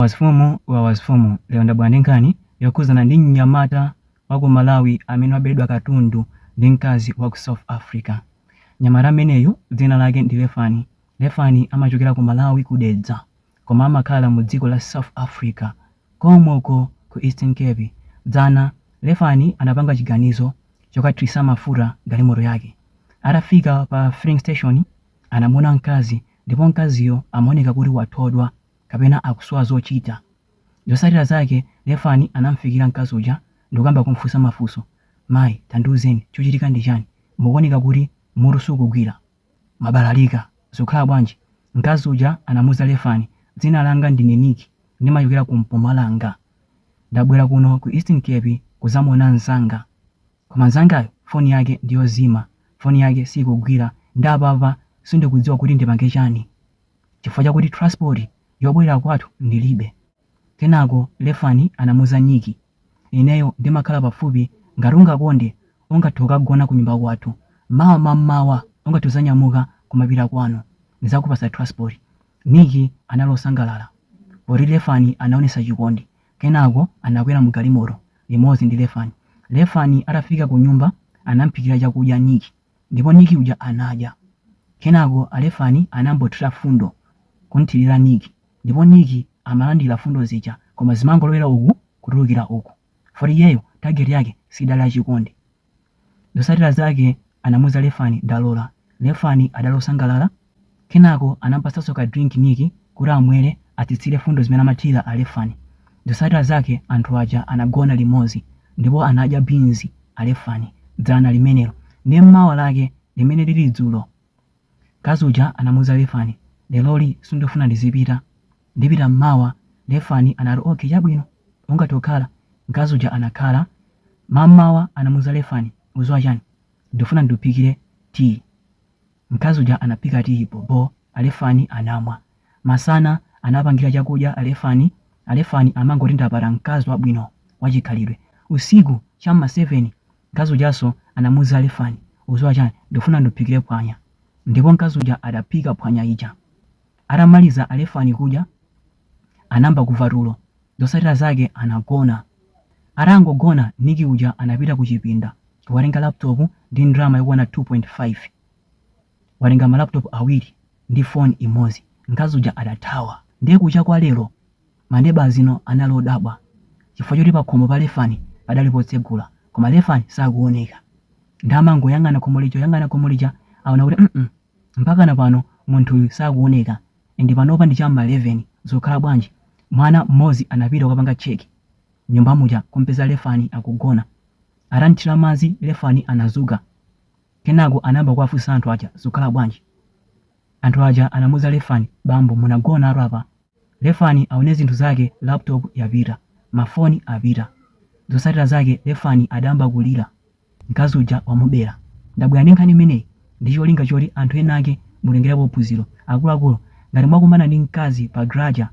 Wamfumu wawa mfumu, lero ndabwera ndi nkhani yokhuzana ndi mnyamata wa ku Malawi amene waberedwa katundu ndi mkazi wa ku South Africa. Mnyamata ameneyu dzina lake ndi Lefani. Lefani amachokera ku Malawi ku Dedza koma amakhala mu dziko la South Africa kom'ko ku Eastern Cape. Dzana, Lefani anapanga chiganizo chokathirisa mafuta galimoto yake. Atafika pa filling station anamuona mkazi ndipo mkaziyo amaoneka kuti wathodwa. kapena akusowa zochita. Zotsatira zake, Lefani anam'fikira mkazi uja ndi kukamba kum'funsa mafunso, Mayi, tandiuzeni, chuchitika ndi chani? Mukuoneka kuti mutu sukugwira. Mwabalalika. Zikukhala bwanji? Mkazi uja anamuuza Lefani, Dzina langa ndine Nikki. Ndimachokera ku Mpumalanga. Ndabwera kuno ku Eastern Cape kudzamuona mzanga. Koma mzangayu foni yake ndi yozima. Foni yake siikugwira. Nde apapa sindikudziwa kuti ndipange chani. chifukwa chakuti thiransipoti yobwerera kwathu ndilibe. Kenako Lefani anamuuza Nikki, Ineyo ndimakhala pafupi, ngati ungakonde ungathe kukagona kunyumba kwathu. Mawa mam'mawa ungathe kudzanyamuka kumapita kwanu. Ndidzakupatsa thiransipoti. Nikki anali wosangalala poti Lefani anaonetsa chikondi. Kenako anakwera mugalimoto limodzi ndi Lefani. Lefani atafika kunyumba anam'phikira chakudya Nikki. Ndipo Nick uja anadya. Kenako Alefani anangothira fundo kumthirira Nick ndipo Nick amalandira fundo zija koma zimangolowera uku kutulukira uku poti iyeyo target yake siinali ya chikondi. Zosatira zake anamuza Lefani ndalora. Lefani adali osangalala. Kenako anamupatsanso ka drink Nick kuti amwele atsitsile fundo zimene amathila Alefani. Zosatila zake anthu aja anagona limozi ndipo anadya beans Alefani dzana limenelo nde mawa lake limene lili dzulo nkazi uja anamuuza Lefani leloli sindifuna ndizipita ndipita mawa Lefani anati ok chabwino ungathe kukhala nkazi uja anakhala mamawa anamuuza Lefani uziwa chani ndifuna ndiuphikile tea Mkazi uja anaphika tiyi bho bho Alefani anamwa. Masana anawapangira chakudya Alefani, Alefani amangoti ndapata mkazi wabwino wachikhalidwe. Usiku cha m'ma 7 mkazi ujanso anamuuza Alefani ukuziwa chani ndikufuna ndiuphikire phwanya. Ndipo mkazi uja adaphika phwanya ija. Atamaliza Alefani kudya anayamba kuva tulo Zosatira zake anagona. Atangogona Nicky uja anapita kuchipinda watenga laptop ndi ndalama yokwana 2.5. Watenga ma laptop awiri ndi phone imodzi. Mkazi uja adathawa. Ndiye kucha kwa lero ma neighbours anali odabwa chifukwa choti pakhomo pa Lefani padali potsegula koma Lefani sakuoneka. Ndiye amangoyang'ana khomo lija kuyang'ana khomo lija aona kuti mm mpakana pano munthuyu sakuoneka. Inde panopa ndi cha m'ma 11 zikukhala bwanji mwana mmodzi anapita kukapanga check mnyumba muja kum'peza Lefani akugona. Atamthira madzi Lefani anadzuka. Kenako anayamba kuwafunsa anthu aja zikukhala bwanji. Anthu aja anamuuza Lefani bambo munagonatu apa. Lefani aone zinthu zake laptop yapita, mafoni apita. Zotsatira zake Lefani adayamba kulira. Mkazi uja wamubera. Ndabwera ndi nkhani imeneyi ndi cholinga choti anthu enake mutengerepo phunziro. Akuluakulu, ngati mwakumana ndi mkazi pa garaja,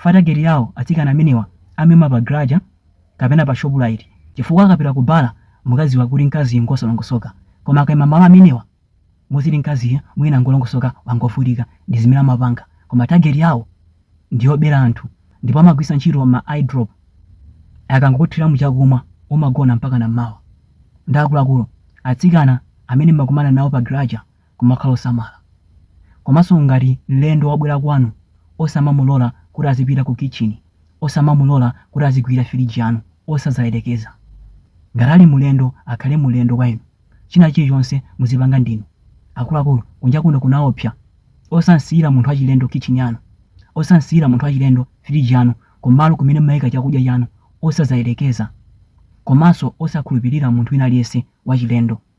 ma target yawo atsikana amenewa amaima pa garaja kapena pa Shoprite chifukwa akapita ku bala mukadziwa kuti mkaziyu ngosalongosoka. Koma akaima m'malo amenewa Muziti mkaziyu mwina ngolongosoka wangovutika ndizimene amapanga koma target yawo ndiyobera anthu ndipo amagwiritsa ntchito ma eye drop akangokuthiramo chakumwa umagona mpakana mmawa. Nde akuluakulu atsikana amene mmakumana nawo pa garaja kumakhala osamala. Komanso ngati mlendo wabwera kwanu osamamulola kuti azipita ku kitchen osamamulola kuti azigwira firiji yanu osazayerekeza. Ngati ali mulendo akhale mulendo kwa inu. China chilichonse muzipanga ndinu. Akuluakulu, kunja kuno kunaopsa. Osam'siyira munthu wachilendo kitchini yanu. Osam'siyira munthu wachilendo firiji yanu kumalo kumene mumaika chakudya chanu. Osadzayerekeza. Komanso osakhulupirira munthu wina aliyense wachilendo.